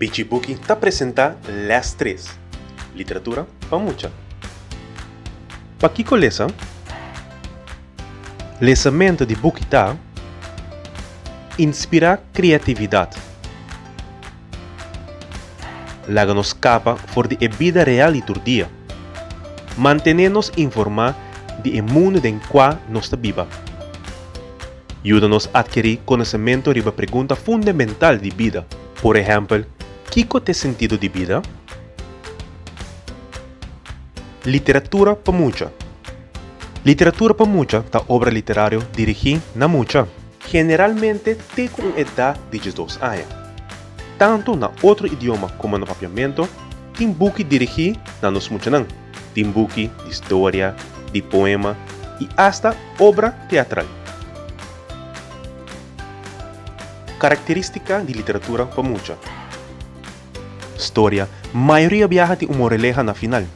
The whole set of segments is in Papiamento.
Pichi Buki ta presentá lès tres, Literatura pa mucha. Pakiko lesa? Lesamentu di buki ta inspirá kreatividat, laga nos skapa for di e bida real di tur dia, mantené nos informá di e mundu den kua nos ta biba. Yuda nos atkerí konosementu riba pregunta fundamental di bida. Por ehèmpel, Kiko t'e sentido di bida? Literatura pa mucha. Literatura pa mucha ta obra literario dirigí na mucha. Generalmente te ku un edá di diesdos aña. Tantu na otro idioma komo na Papiamento tin buki dirigí na nos muchanan. Tin buki di historia, di poema i asta obra teatral. Karakterístika di literatura pa mucha. Storia mayoria biaha tin un moreleha na final.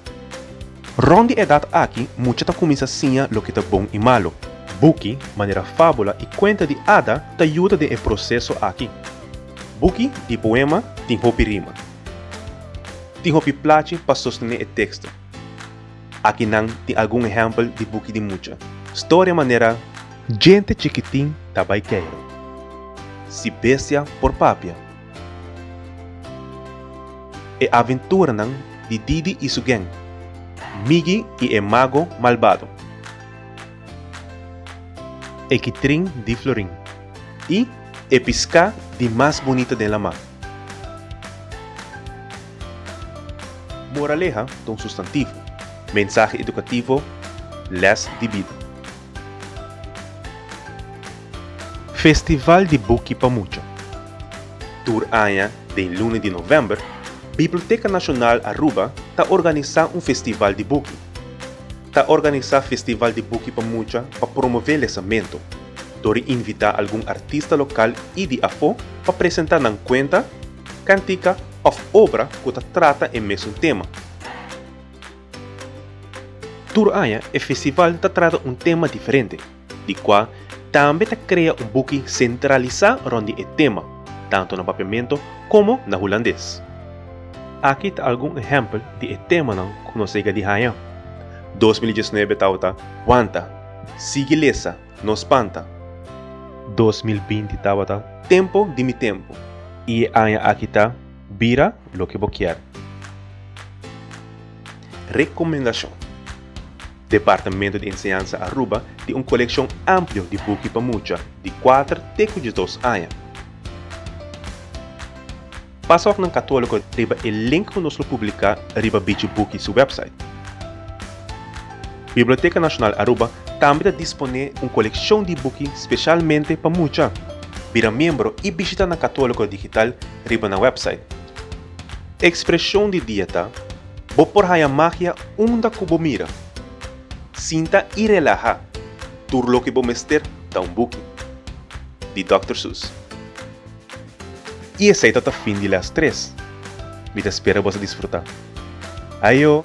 Rònt di edat aki mucha ta kuminsá siña loke ta bon i malu. Buki manera fábula i kuenta di ada ta yuda den e proseso aki. Buki di poema tin hopi rima. Tin hopi plachi pa sostené e teksto. Aki nan tin algun ehèmpel di buki di mucha storia manera. Djente chikitin ta bai keiro. Si bestia por papia. E aventuranan di Didi i su geng. Migi i e mago malbado. E kitrin di florin. I e piská di mas bunita den lamar. Moraleha, ta un sustantivo. Mensahe edukativo, lès di bida. Festival di buki pa mucha. Tur aña den luna di novèmber, Biblioteka Nashonal Aruba ta organisá un festival di buki. Ta organisá festival di buki pa mucha pa promové lesamentu. dor di invitá algun artista lokal i di afó pa presentá nan kuenta, kántika òf obra ku ta trata e mesun tema. Tur aña e festival ta trata un tema diferente, di kua tambe ta krea un buki sentralisá rònt di e tema, tantu na Papiamento komo na Hulandes. Aki ta algun ehèmpel di e temanan ku nos a yega di haña, Dos mil i diesnuebe tabata Wanta, Sigui lesa, No spanta. Dos mil binti tabata tempo di mi tempo. I e aña aki ta bira loke bo kier. Recomendashon, Departamento di Enseñansa Aruba tin un kolekshon amplio di buki pa mucha di kuater te ku diesdos aña. Pasa òf nan Katóliko riba e link ku nos lo publiká riba Bichi Buki su wèpsait. Biblioteka Nashonal Aruba tambe ta disponé un kolekshon di buki speshalmente pa mucha. Bira miembro i bishitá nan Katóliko digital riba nan wèpsait. E ekspreshon di dia ta, Bo por haña magia unda ku bo mira. Sinta i relahá, tur loke bo mester ta un buki. Di Dòkter Seuss. Y esey ta ta fin di les tres. Mi ta spera bos a disfruta. Ayo!